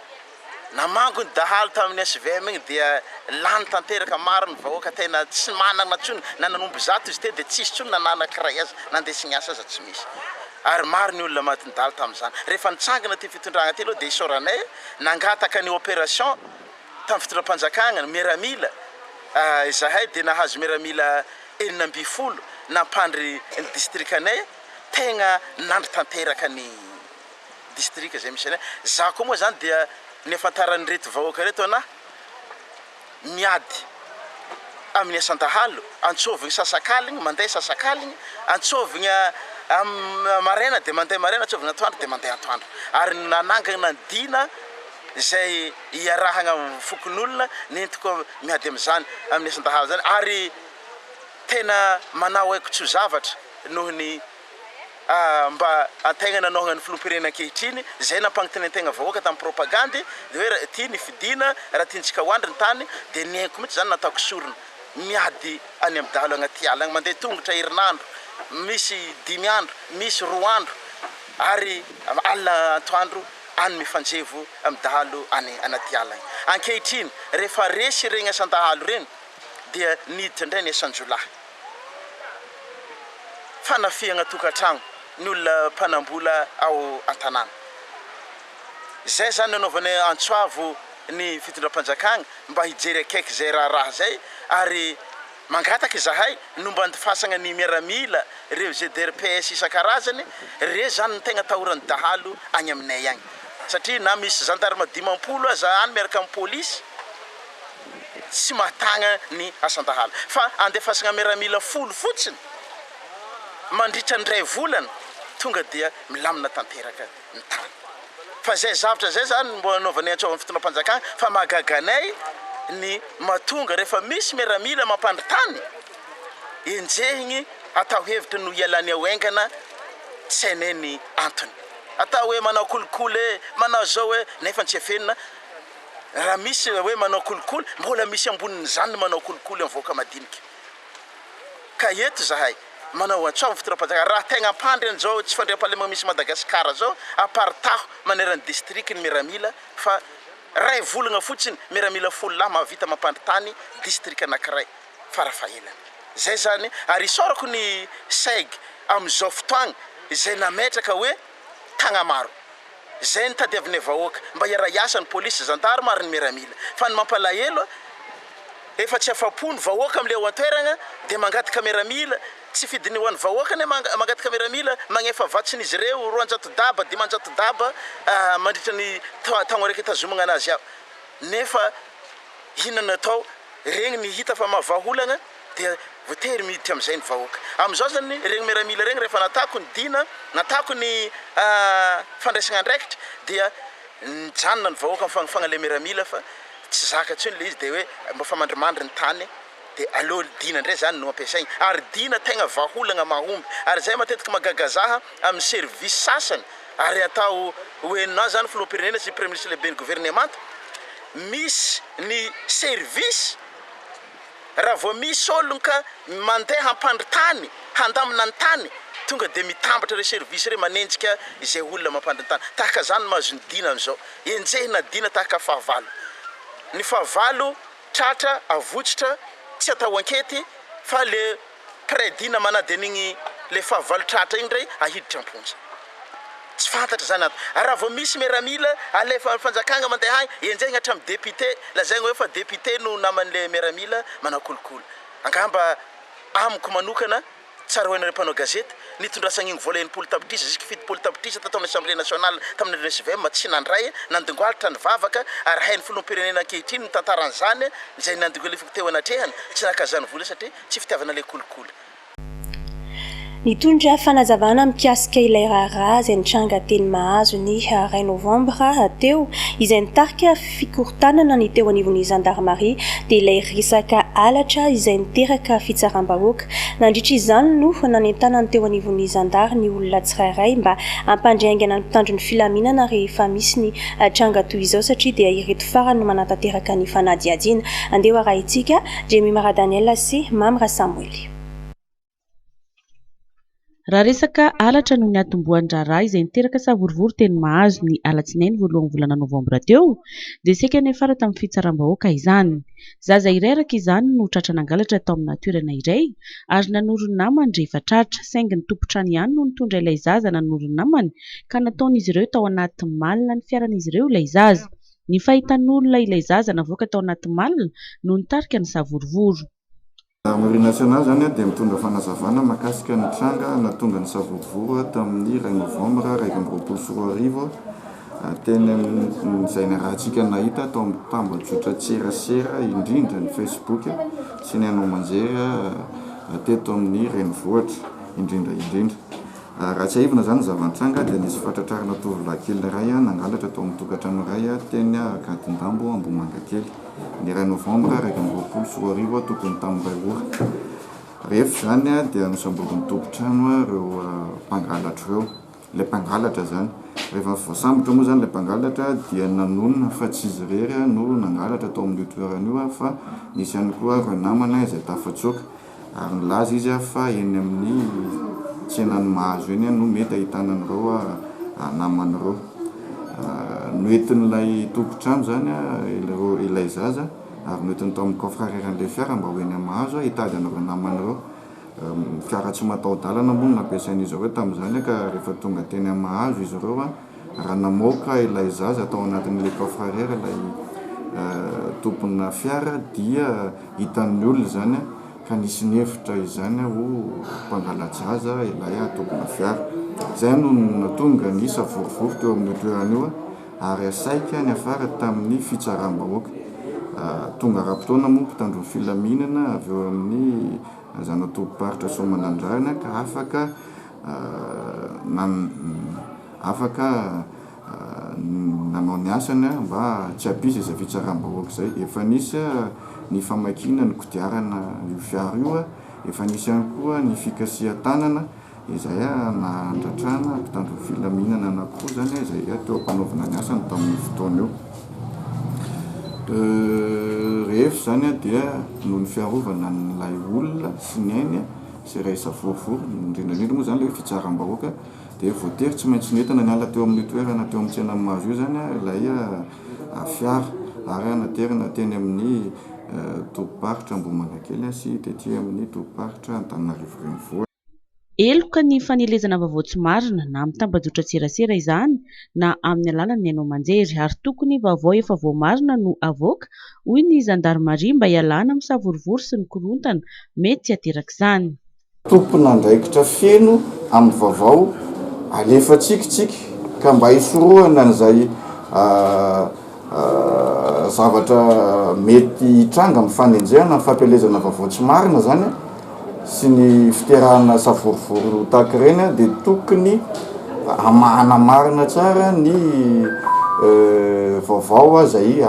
Namango ny dahalo tamin'ny svm iny dia lany tanteraka, maro ny vahoaka tena tsy manana intsony, na nanombo zato izy teo dia tsisy intsony na nanankiray aza, nandeha niasa aza tsy misy, ary maro ny olona maty nidalo tamin'izany, rehefa nitsangana ity fitondrana ity aloha dia isaoranay nangataka ny operation tamin'ny fitondram-panjakana, miaramila, izahay dia nahazo miaramila enina ambin'ny folo nampandry ny distrikanay, tegna nandry tanteraka ny. distrika izay misy anay, za koa moa zany dia nihafantaran'ireto vahoaka reto ana miady amin'ny asan-dahalo, antsovigny sasakaligny mandeha sasakaligny, antsovigna am- maraina de mandeha maraina, antsovigna atoandro de mandeha atoandro, ary nanangana ny dina izay iarahagna amin'ny fokonolona nentiko miady amin'izany amin'ny asan-dahalo zany ary tena manao haiko-tso-zavatra noho ny. mba hataingana ny nohagnan'ny filoham-pirenena ankehitriny, izay nampangintinentegna vahoaka tamin'ny propagandy, dia hoe raha ity ny fidiana, raha tiantsika ho andry ny tany, dia nihaiko mihitsy izany nataoko sorona, miady any amin'ny dahalo agnaty ala agny, mandeha tongotra herinandro, misy dimy andro, misy roa andro, ary alina antoandro any mifanjevo amin'ny dahalo any anaty ala agny. Ankehitriny, rehefa resy iregny asan-dahalo iregny, dia niditra indray ny asan-jiolahy. fanafihana tokantrano ny olona mpanambola ao an-tanàna. Izay zany nanaovany antso avo ny fitondram-panjakana mba hijery akaiky izay raharaha izay ary mangataka izahay ny ho mandifasana ny miaramila ireo GDRPS isan-karazany re zany no tegna atahoran'ny dahalo agny aminay agny satria na misy zandarma dimampolo aza any miaraka amin'ny polisy tsy mahatagna ny asan-dahalo fa andefasagna miaramila folo fotsiny mandritra ny iray volana tonga dia milamina tanteraka ny tany fa zay zavatra zay zany mbo anaovanay antsovan'ny fitondram-panjakana fa mahagaga anay ny mahatonga rehefa misy miaramila mampandry tany enjehigny atao hevitra no hialany ao engana tsy hainay ny antony atao hoe manao kolikoly e manao zao hoe nefa tsy efenina Raha misy ilay hoe manao kolikoly, mbola misy ambonin'izany ny manao kolikoly amin'ny vahoaka madinika. Ka eto izahay, manao antso amin'ny fitondram-panjakana, raha tegna hampandry an'izao tsy fandriampahalemana misy Madagasikara izao, aparitaho maneran'ny district ny miaramila fa ray volagna fotsiny, miaramila folo lahy mahavita mampandry tany district anankiray farafahelany. Izay izany ary isaorako ny CEG amin'izao fotoagna izay nametraka hoe Tagnamaro. Izay no tadiavinay vahoaka, mba hiara-hiasa ny polisy, zandarma ary ny miaramila. Fa ny mampalahelo, efa tsy afa-po ny vahoaka amin'ilay ao an-toeragna dia mangataka miaramila, tsy fidiny ho an'ny vahoaka anie mangataka miaramila, magnefa vatsiny izy ireo, roanjato daba, dimanjato daba mandritra ny taogna raika itazomagna anazy ao. Nefa inona no atao, regny ny hita fa mahavaha olagna. dia voatery miditra amin'izay ny vahoaka. Amin'izao izany ireny miaramila ireny rehefa nataoko ny dina, nataoko ny fandraisana andraikitra dia nijanona ny vahoaka mifanofagna ilay miaramila fa tsy zaka intsony ilay izy dia hoe mba fa mandrimandry ny tany dia aleo dina indray izany no ampiasaina. Ary dina tegna vahaolagna mahomby. Ary izay matetika mahagaga zaha amin'ny service sasany ary atao hoenona zany filoham-pirenena sy praiministra sy lehiben'ny governemanta, misy ny service, Raha vao misy olon ka mandeha hampandry tany, handamina ny tany, tonga dia mitambatra ireo service ireo manenjika izay olona mampandry ny tany. Tahaka izany ny mahazo ny Dina amin'izao. Enjehina ny Dina tahaka fahavalo. Ny fahavalo tratra, avotsitra, tsy atao ankety fa le. Prédit na manadino igny le fahavalo tratra igny ndray ahiditra amponja. Tsy fantatra zany antony. Ary raha vao misy miaramila alefa fanjakagna mandeha agny enjehigna hatramin'ny député lazaigna hoe fa député no naman'le miaramila manao kolikoly. Angamba amiko manokana tsaroinareo mpanao gazety nitondrasagna igny vola enimpolo tapitrisa jusque fitopolo tapitrisa tato amin'ny assemblée nationale tamin'ny andron'ny svm tsy nandray nandingoalitra nivavaka ary hain'ny filoham-pirenena ankehitriny ny tantara an'izany izay nandingoalifiko teo anatrehany tsy naka zany vola satria Tsy fitiavana ilay kolikoly. Nitondra fanazavana mikasika ilay raharaha izay nitranga teny Mahazo ny iray novambra teo, izay nitarika fikorontanana ny teo anivon'ny zandarimaria, dia ilay resaka halatra izay niteraka fitsaram-bahoaka. Nandritra izany no nanentanany teo anivon'ny zandary ny olona tsirairay mba hampandry haingana ny mpitandro ny filaminana rehefa misy ny tranga toy izao satria dia ireto farany no manatanteraka ny fanadihadiana. Andeha ho arahintsika. Jemima Radaniela sy Mamy Rasamoely. Raha resaka halatra no niatombohan'ny raharaha izay niteraka savorovoro teny Mahazo ny alatsinainy voalohan'ny volana novambra teo dia saika niafara tamin'ny fitsaram-bahoaka izany. Zaza iray araka izany no tratra nangalatra tao amina toerana iray ary nanoro ny namany rehefa tratra saingy ny tompon-trano ihany no nitondra ilay zaza nanoro ny namany ka nataon'izy ireo tao anaty malina ny fiaran'izy ireo ilay zaza Ny fahitan'olona ilay zaza navoaka tao anaty malina no nitarika ny savorovoro. Gendarmerie nationale izany dia mitondra fanazavana mahakasika ny tranga nahatonga ny savorovoro tamin'ny iray novambra iraika amby roapolo sy roa arivo teny amin'izay niarahantsika nahita tao amin'ny tambajotran-tserasera indrindra ny Facebook sy ny haino aman-jery teto amin'ny renivohitra indrindra indrindra. Raha tsiahivina izany zava-nitranga dia nisy fahatratrarana tovolahy kely iray nangalatra tao amin'ny tokantrano iray teny Ankadindambo Ambohimangakely, ny iray novambra iraika amby roapolo sy roa arivo tokony tamin'ny iray ora. Rehefa izany dia nosamborin'ny tompon-trano ireo mpangalatra ireo ilay mpangalatra izany. Rehefa voasambotra moa izany ilay mpangalatra dia nanonona fa tsy izy irery no nangalatra tao amin'io toerana io fa nisy ihany koa ireo namana izay tafatsoaka. ary nilaza izy fa eny amin'ny tsenan'i Mahazo eny no mety ahitana an'ireo namany ireo. Noentin'ilay tompon-trano izany ilay zaza ary noentiny tao amin'ny coffre-areran'ilay fiara mba ho eny amin'i Mahazo hitady an'ireo namany ireo. Fiara tsy mataho-dalana moa no nampiasain'izy ireo tamin'izany ka rehefa tonga teny amin'i Mahazo izy ireo, raha namoaka ilay zaza tao anatin'ilay coffre-fert ilay tompona fiara dia hitan'ny olona izany ka nisy nihevitra izany ho mpangala-jaza ilay tompona fiara. Izay no nahatonga ny savorovoro teo amin'io toerana io ary saika niafara tamin'ny fitsaram-bahoaka. Tonga ara-potoana moa ny mpitandron'ny filaminana avy eo amin'ny zana-tobim-paritra Soamanandrariny ka afaka afaka nanao ny asany mba tsy hampisy izay fitsaram-bahoaka izay. Efa nisy ny famakiana ny kodiarana io fiara io, efa nisy ihany koa ny fikasihan-tanana izay nandratrana mpitandro ny filaminana anankiroa izany izay teo am-panaovana ny asany tamin'io fotoana io. Rehefa izany dia noho ny fiarovana an'ilay olona sy ny ainy, izay raisa vovo, indrindra indrindra moa izany ilay hoe fitsaram-bahoaka dia voatery tsy maintsy nentana niala teo amin'io toerana teo amin'ny tsenan'i Mahazo io izany ilay fiara ary naterina teny amin'ny tobim-paritra Ambohimanakely sy tety amin'ny tobim-paritra Antananarivo Renivohitra. Heloka ny fanelezana vaovao tsy marina na mitambajotra-tserasera izany na amin'ny alalan'ny haino aman-jery ary tokony vaovao efa voamarina no avoaka hoy ny zandarimaria mba hialana amin'ny savorovoro sy ny korontana mety tsy aterak'izany. Tompon'andraikitra feno amin'ny vaovao alefantsika isika ka mba hisorohana an'izay zavatra mety hitranga amin'ny fanenjehana, ny fampielezana vaovao tsy marina izany. sy ny fiterahana savorovoro ho tahaka ireny dia tokony hamahana marina tsara ny vaovao izay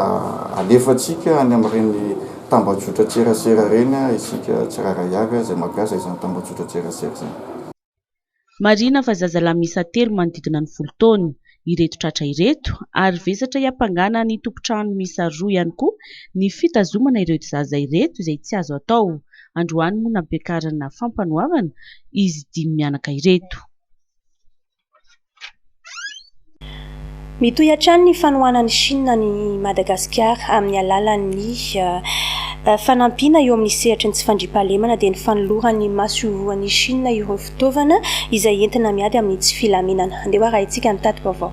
alefantsika any amin'ireny tambajotran-tserasera ireny isika tsirairay avy izay mampiasa izany tambajotran-tserasera izany. Marihina fa zazalahy miisa telo manodidina ny folo taona ireto tratra ireto ary vesatra hiampangana ny tompon-trano miisa roa ihany koa ny fitazomana ireto zaza ireto izay tsy azo atao. Androany moa nampiakarina fampanoavana izy dimy mianaka ireto. Mitohy hatrany ny fanohanan'i Shina an'i Madagasikara amin'ny alalan'ny fanampiana eo amin'ny sehatry ny tsy fandriampahalemana dia ny fanolorany masoivohon'i Shina ireo fitaovana izay entina miady amin'ny tsy filaminana. Andeha ho arahintsika ny tati-baovao.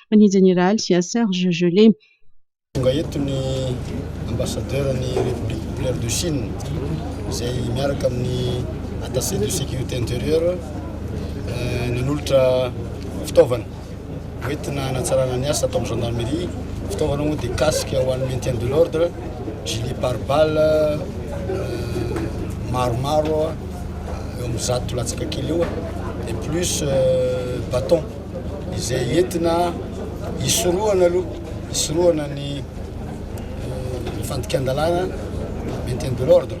ny Jeneraly Serge Gelé. Tonga eto ny Ambassadeur'n'ny République Populaire de Chine izay miaraka amin'ny Attaché de Sécurité Intérieure nanolotra fitaovana hoentina hanatsarana ny asa ato amin'ny Gendarmerie. Fitaovana moa dia casque ho an'ny maintien de l'ordre, gilet pare-balle maromaro eo amin'ny zato latsaka kely eo dia plus bâton. izay entina hisorohana aloha hisorohana ny fandikan-dalàna maintien de l'ordre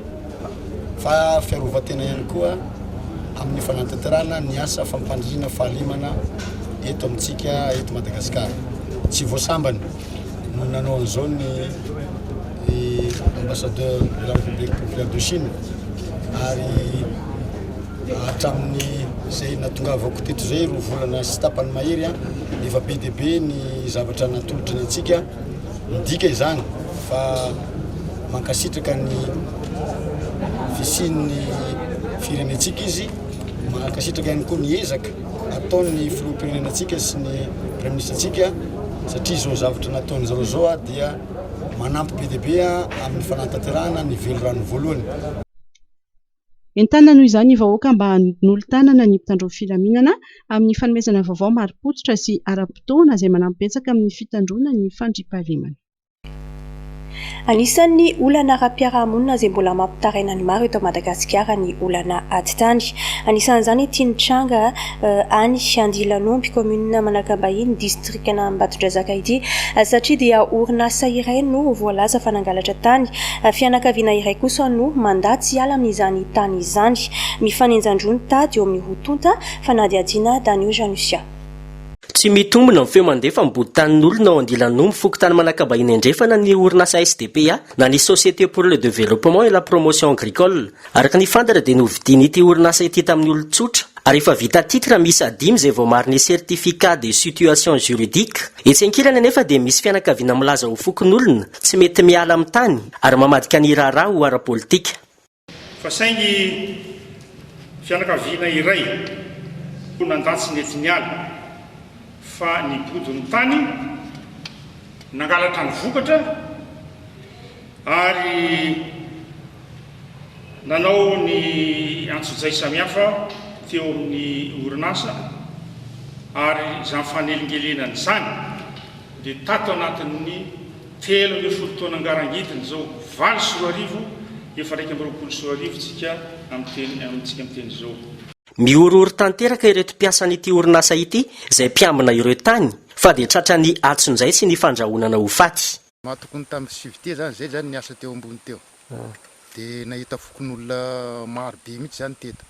fa fiarovan-tena ihany koa amin'ny fanatanterahana ny asa fampandriana fahalemana eto amintsika eto Madagasikara tsy voasambany no nanao an'izao ny ambassadeur de la République populaire de Chine ary Hatramin'izay nahatongavako teto izay, roa volana sy tapany mahery, efa be dia be ny zavatra natolotry ny antsika. Midika izany fa mankasitraka ny fisian'ny firenentsika izy, mankasitraka ihany koa ny ezaka ataon'ny filoham-pirenenantsika sy ny praiministrantsika satria izao zavatra nataony zareo izao dia manampy be dia be amin'ny fanatanterahana ny velirano voalohany. Entanina noho izany ny vahoaka mba hanolo-tanana ny mpitandro ny filaminana amin'ny fanomezana vaovao marim-pototra sy ara-potoana izay manampy betsaka amin'ny fitandroana ny fandriampahalemana. Anisan'ny olana ara-piarahamonina izay mbola mampitaraina ny maro eto Madagasikara ny olana ady tany. Anisan'izany ity nitranga any Andilanomby, kaominina Manakambahiny, distrikan'i distrikan'i Ambatondrazaka ity satria dia orinasa iray no voalaza fa nangalatra tany, fianakaviana iray kosa no mandà tsy hiala amin'izany tany izany. Mifanenjan-droa ny tady eo amin'ny roa tonta, fanadihadiana Danio Janusia. Tsy mitombina ny feo mandefa mibodo tanin'olona ao Andilan'Omby, fokontany Manakabahiny Andrefana ny orinasa SDPA na ny Société pour le Développement et la Promotion Agricole. Araka ny fantatra dia novidian'ity orinasa ity tamin'ny olon-tsotra ary efa vita titre miisa dimy izay voamarin'ny certificat de situation juridique. Etsy ankilany anefa dia misy fianakaviana milaza ho fokonolona tsy mety miala amin'ny tany ary mamadika ny raharaha ho ara-politika. Fa saingy fianakaviana iray mponan-dahy tsy nety niala fa nibodo ny tany nangalatra ny vokatra. ary nanao ny antsojay samihafa teo amin'ny orinasa ary izany fanelingelenana izany dia tato anatin'ny telo ambin'ny folo taona ngarangidiny izao valo sy roa arivo efa iraika amby roapolo sy roa arivo tsika amin'ny amintsika amin'ny teny izao. Mihorohoro tanteraka ireto mpiasan'ity orinasa ity izay mpiambina ireo tany fa dia tratran'ny atsonjay sy ny fandrahonana ho faty. Maha tokony tamin'ny civete zany zay zany niasa teo ambony teo de nahita fokonolona maro be mihitsy zany teto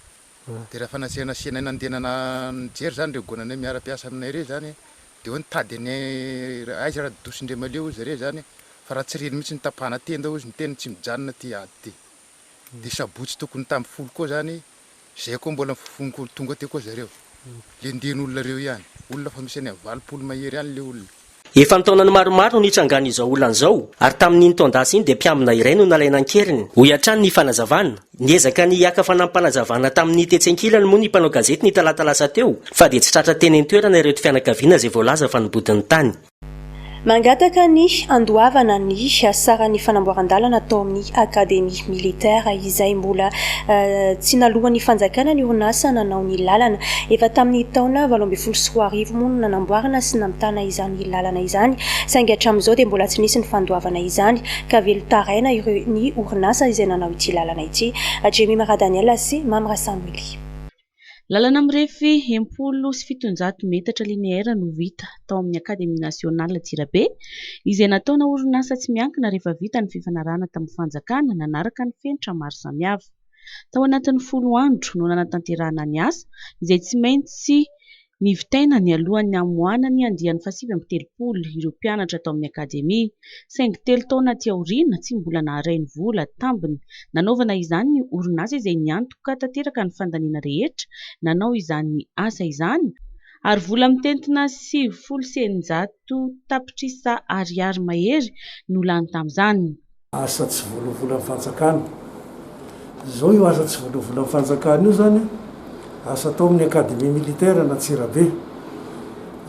de raha fa nasiana nasianay nandeha nana nijery zany reo goananay miara mpiasa aminay reo zany de hoe nitady any aiza ra dosin-dRiamaleo ozy zareo zany fa raha tsy reny mihitsy ny tapahana tenda ozy ny teny tsy mijanona ty ady ty. Ny sabotsy tokony tam folo koa zany zay koa mbola mifofonkolo tonga teo koa zareo le ndeno olona reo ihany olona fa misy any am valopolo mahery any le olona. Efa an-taonany maromaro no nitrangan'izao olana izao ary tamin'iny taon-dasa iny dia mpiambina iray no nalaina an-keriny, hoy hatrany ny fanazavana. Niezaka ny hiaka fanampanazavana tamin'ny tetsy an-kilany moa ny mpanao gazety ny talata lasa teo fa dia tsy tratra teny an-toerana ireto fianakaviana izay voalaza fa nibody ny tany. Mangataka ny handoavana ny saran'ny fanamboaran-dalana tao amin'ny Akademia Militaire izay mbola tsy naloan'ny fanjakana ny orinasa nanao ny lalana. Efa tamin'ny taona valo ambin'ny folo sy roa arivo moa no nanamboarana sy namitana izany lalana izany saingy hatramin'izao dia mbola tsy nisy ny fandoavana izany ka velon-taraina ireo ny orinasa izay nanao ity lalana ity, Jemy Maradaniel sy Mamy Rasamily. Lalana mirefy enim-polo sy fitonjato metatra lineaire no vita tao amin'ny Akademia Nasional Antsirabe, izay nataona orinasa tsy miankina rehefa vita ny fifanarahana tamin'ny fanjakana nanaraka ny fenitra maro samihafa. Tao anatin'ny folo andro no nanatanterahana ny asa, izay tsy maintsy Nivitaina nialohan'ny hamoahana ny andiany fahasivy amby telopolo ireo mpianatra tao amin'ny Akademia, saingy telo taona aty aoriana tsy mbola naharay ny vola tambiny nanaovana izany ny orinasa izay niantoka tanteraka ny fandaniana rehetra nanao izany asa izany ary vola mitentina sivifolo sy eninjato tapitrisa ariary mahery no lany tamin'izany. Asa tsy voaloavolan'ny fanjakana. Izao io asa tsy voaloavolan'ny fanjakana io izany asa atao amin'ny Académie militaire an'Antsirabe.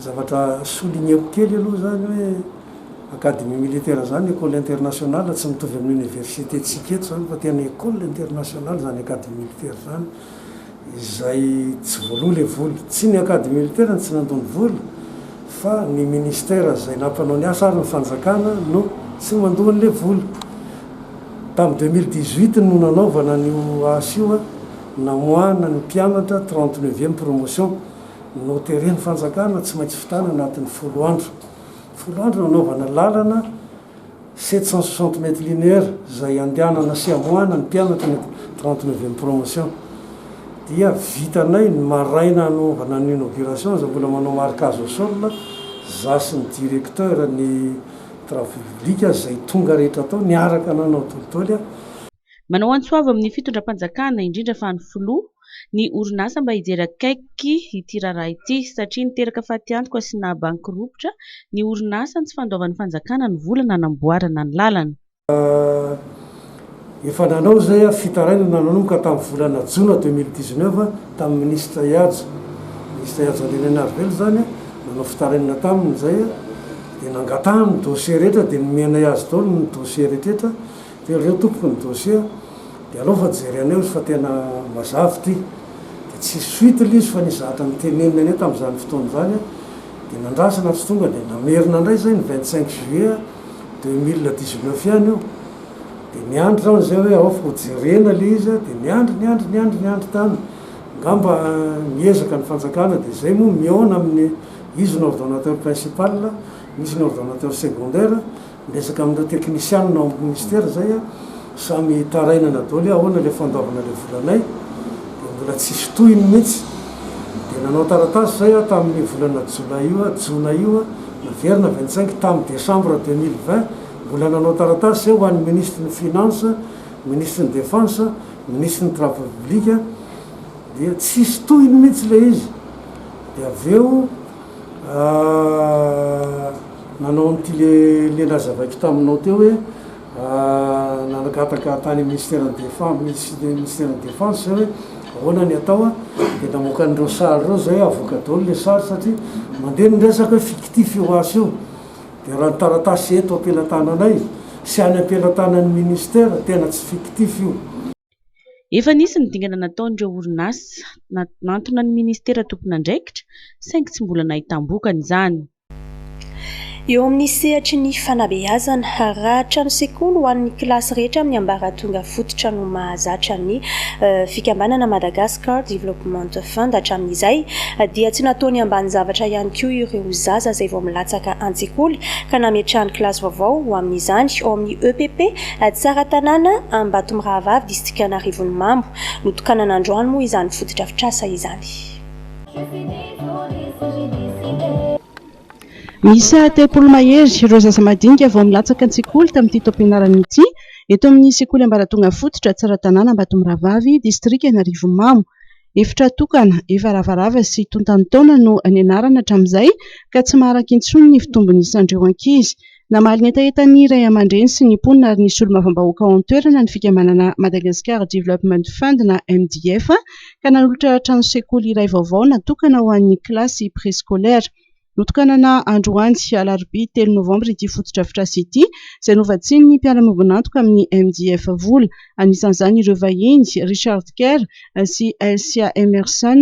Zavatra souligner-ko kely aloha izany hoe Académie militaire izany école internationale tsy mitovy amin'ny Université-tsika eto izany fa tena école internationale izany Académie militaire izany. izay tsy voaloa ilay vola. Tsy ny Acadie Militaire no tsy nandoa ny vola fa ny Ministère izay nampanao ny asa ary ny fanjakana no tsy mandoa an'ilay vola. Tamin'ny deux mille dix-huit no nanaovana an'io asa io an, namoahana ny mpianatra trente neuvième promotion. Noteren'ny fanjakana tsy maintsy vitana anatin'ny folo andro. Folo andro nanaovana lalana. sept cent soixante mètres linéaires izay andehanana sy amoahana ny mpianatra eny amin'ny trente neuvième promotion dia vitanay ny maraina hanaovana ny inauguration izay mbola manao marquage au sol za sy ny directeur ny travaux publics izay tonga rehetra tao niaraka nanao tolitoly Manao antso avo amin'ny fitondram-panjakana, indrindra fa ny filoha, ny orinasa mba hijery akaiky ity raharaha ity, satria niteraka fatiantoka sy naha-bankiropitra ny orinasa ny tsy fandoavan'ny fanjakana ny vola nanamboarana ny lalana. Efa nanao izay ary fitarainana nanomboka tamin'ny volana jona deux mille dix-neuf tamin'ny minisitra Ihajy, minisitra Ihajy Andrianainarivelo izany, nanao fitarainana taminy izay dia nangatahany ny dossier rehetra dia nomenay azy daholo ny dossier rehetra. Teo reo tompoko ny dossier de aleo fa jereneo izy fa tena mazava ity de tsy suite le izy fa nisy zavatra noteneniny anie tamzany fotoana zany de nandrasana tsy tonga de namerina ndray zay ny vingt cinq juillet deux mille dix neuf ihany io de niandry zaho anzay hoe aoka ho jerena le izy de niandry niandry niandry niandry tany ngamba miezaka ny fanjakana de zay moa mihaona aminy izy no ordonateur principal misy ny ordonateur secondaire Miezaka amin'ireo teknisianina ao amin'ny minisitera izay aho, samy hitarainana daholo hoe ahoana ilay fandoavana ilay volanay, dia mbola tsisy tohiny mihitsy. Dia nanao taratasy izay aho tamin'io volana jolay io, jona io, naverina avy an-tsaingy tamin'ny desambra deux mille vingt, mbola nanao taratasy izay ho an'ny minisitry ny finances, minisitry ny defense, minisitry ny travaux publics, dia tsisy tohiny mihitsy ilay izy. Dia avy eo. Nanao an'ity le le nazavaiko taminao teo hoe nangataka tany Ministeran'ny Defen- Minis- Ministeran'ny Defense izay hoe ahoana ny atao a, dia namoaka an'ireo sary ireo izay hoe avoaka daholo ilay sary satria mandeha ny resaka hoe fictif io asa io. Dia raha ny taratasy eto am-pelatananay sy any am-pelatanan'ny Ministera tena tsy fictif io. Efa nisy ny dingana nataon'ireo orinasa na- nantona ny Ministera tompon'andraikitra saingy tsy mbola nahitam-bokany izany. Eo amin'ny sehatry ny fanabeazana, raha trano sekoly ho an'ny kilasy rehetra amin'ny ambaratonga fototra no mahazatra ny fikambanana Madagascar Development Fund hatramin'izay, dia tsy nataony ambany zavatra ihany koa ireo zaza izay vao milatsaka an-tsekoly ka nametrahany kilasy vaovao ho amin'izany ao amin'ny EPP Tsaratanàna Ambatomirahavavy, distrikan'Arivonimamo. Notokanana androany moa izany fotodrafitrasa izany. Miisa telopolo mahery ireo zaza madinika vao milatsaka an-tsekoly tamin'ity taom-pianarana ity, eto amin'ny sekoly ambaratonga fototra Tsaratanàna Ambatomirahavavy, distrika Anarivomamo. Efitra tokana, efa ravarava sy tontan'ny taona no nianarana hatramin'izay ka tsy maharaka intsony ny fitombon'isan'ireo ankizy. Namaly ny hetahetan'ny ray aman-dreny sy ny mponina ary ny solombavambahoaka ao an-toerana ny fikambanana Madagascar Development Fund na MDF ka nanolotra trano sekoly iray vaovao natokana ho an'ny kilasy préscolaire. Notokanana androany alarobia telo novambra ity fotodrafitrasa ity izay novatsian'ny mpiara-miombon'antoka amin'ny MDF vola, anisan'izany ireo vahiny Richard Kerr sy Elcia Emerson.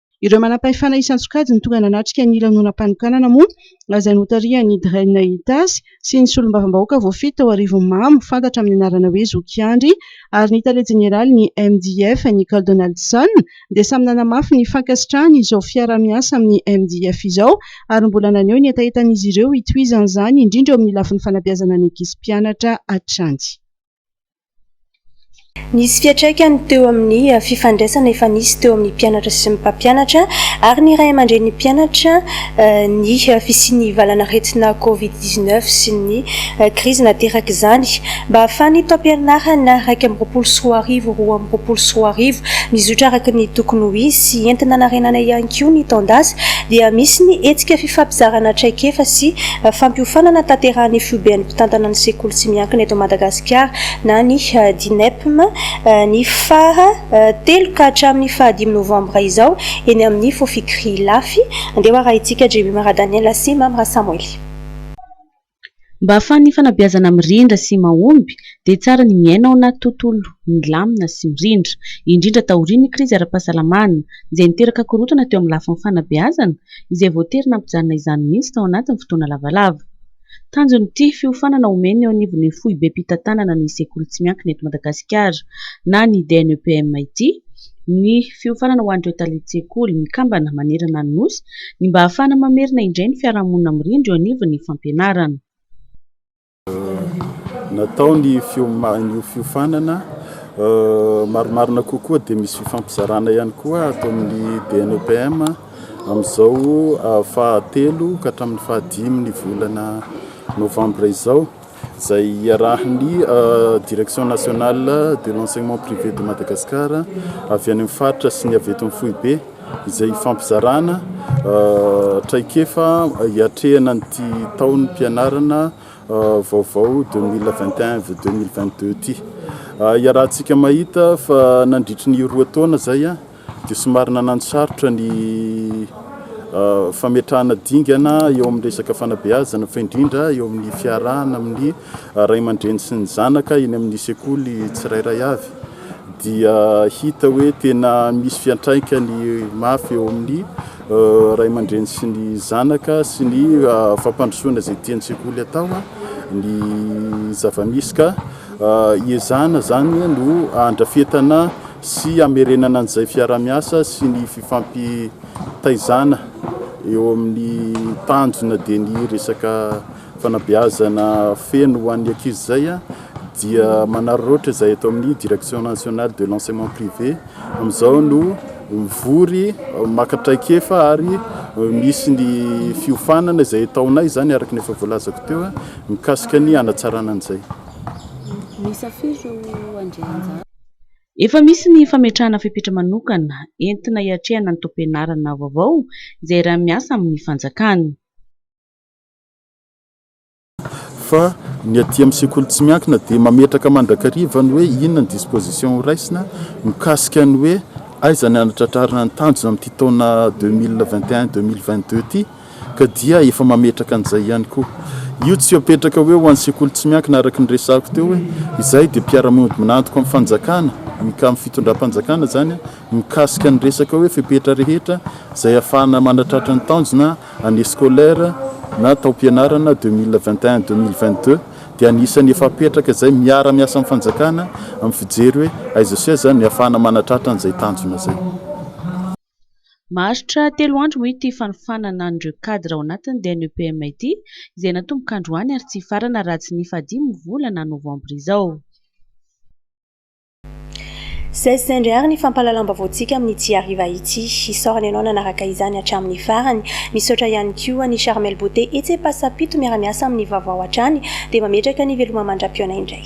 Ireo manampahefana isan-tsokajiny tonga nanatrika ny lanonam-panokanana moa izay notarihan'ny Dren Itasy sy ny solombavambahoaka voafidy tao Arivonimamo fantatra amin'ny anarana hoe Zoky Andry ary ny tale jeneralin'ny MDF Nicole Donaldson dia samy nanamafy ny fankasitrahany izao fiaraha-miasa amin'ny MDF izao ary mbola naneho ny hetahetan'izy ireo hitohizan'izany indrindra eo amin'ny lafiny fanabeazana ny ankizy mpianatra hatrany Nisy fiantraikany teo amin'ny fifandraisana efa nisy teo amin'ny mpianatra sy ny mpampianatra ary ny ray aman-drenin'ny mpianatra ny fisian'ny valan'aretina covid dix neuf sy ny krizy naterak'izany. Mba hahafahan'ny taom-pianarana iraika amby roapolo sy roa arivo roa amby roapolo sy roa arivo mizotra araka ny tokony ho izy sy enti-nanarenana ihany koa ny taon-dasa dia misy ny hetsika fifampizarana traikefa sy fampiofanana tanterahin'ny Foiben'ny mpitantana ny sekoly tsy miankina eto Madagasikara na ny Dinepm ny faha telo ka hatramin'ny faha dimy novambra izao eny amin'ny Fofikri Ilafy. Andeha ho arahintsika Jemima Radaniela sy Mamy Rasamoily. Mba ahafahan'ny fanabeazana mirindra sy mahomby dia tsara ny miaina ao anaty tontolo milamina sy mirindra, indrindra taorian'ny krizy ara-pahasalamana izay niteraka korontana teo amin'ny lafiny fanabeazana izay voatery nampijanona izany mihitsy tao anatin'ny fotoana lavalava. Tanjon'ity fiofanana omeny eo anivon'ny foibem-pitantanana ny sekoly tsy miankina eto Madagasikara na ny DNEPM ity ny fiofanana ho an'ireo talen-tsekoly mikambana manerana ny Nosy ny mba hahafahana mamerina indray ny fiarahamonina mirindra eo anivon'ny fampianarana. Natao ny io fiofanana, marimarina kokoa dia misy fifampizarana ihany koa ato amin'ny DNEPM. Amin'izao fahatelo ka hatramin'ny fahadimin'ny volana novambra izao, izay iarahan'ny Direction nationale de l'enseignement privé de Madagascar avy any amin'ny faritra sy ny avy eto amin'ny foibe, izay hifampizarana traikefa hiatrehana an'ity taom-pianarana vaovao deux mille vingt et un vue deux mille vingt deux ity. Iarahantsika mahita fa nandritry ny roa taona izay, dia somary nananosarotra ny fametrahana dingana eo amin'ny resaka fanabeazana fa indrindra eo amin'ny fiarahana amin'ny ray aman-dreny sy ny zanaka eny amin'ny sekoly tsirairay avy dia hita hoe tena misy fiantraikany mafy eo amin'ny ray aman-dreny sy ny zanaka sy ny fampandrosoana izay tian'ny sekoly atao ny zavamisy ka iezahana izany no andrafetana sy hamerenana an'izay fiarahamiasa sy ny fifampitaizana eo amin'ny tanjona dia ny resaka fanabeazana feno ho an'ny ankizy izay dia manararaotra izay eto amin'ny direction nationale de l'enseignement privé amin'izao no mivory maka traikefa ary misy ny fiofanana izay ataonay izany araka ny efa voalazako teo mikasika ny hanatsarana an'izay. Efa misy ny fametrahana fepetra manokana entina hiatrehana ny taom-pianarana vaovao izay iray miasa amin'ny fanjakana. Fa ny aty amin'ny sekoly tsy miankina dia mametraka mandrakariva ny hoe inona ny disposition ho raisina mikasika ny hoe aiza ny hanatratrarana ny tanjona amin'ity taona deux mille vingt et un, deux mille vingt deux ity. ka dia efa mametraka an'izay ihany koa. Io tsy apetraka hoe ho an'ny sekoly tsy miankina araka ny resahako teo hoe izahay dia mpiara-mody minantoka amin'ny fanjakana, amin'ny fitondram-panjakana izany, mikasika ny resaka hoe fepetra rehetra izay ahafahana manatratra ny tanjona année scolaire na taom-pianarana deux mille vingt et un, deux mille vingt deux dia anisan'ny efa apetraka izay miara-miasa amin'ny fanjakana amin'ny fijery hoe aiza sy aiza no ahafahana manatratra an'izay tanjona izay. Maharitra telo andro moa ity fanofanana an'ireo cadre ao anatiny dia ny EPM ity izay natomboka androany ary tsy hifarana raha tsy nifadiana ny volana novambra izao. Saizy sendra ary ny fampahalalam-baovaontsika amin'ity hariva ity. Isaorana ianao nanaraka izany hatramin'ny farany. Misaotra ihany koa an'i Charmel Beauté etsy Ampasapito miara-miasa amin'ny vaovao hatrany dia mametraka ny veloma mandra-pihaona indray.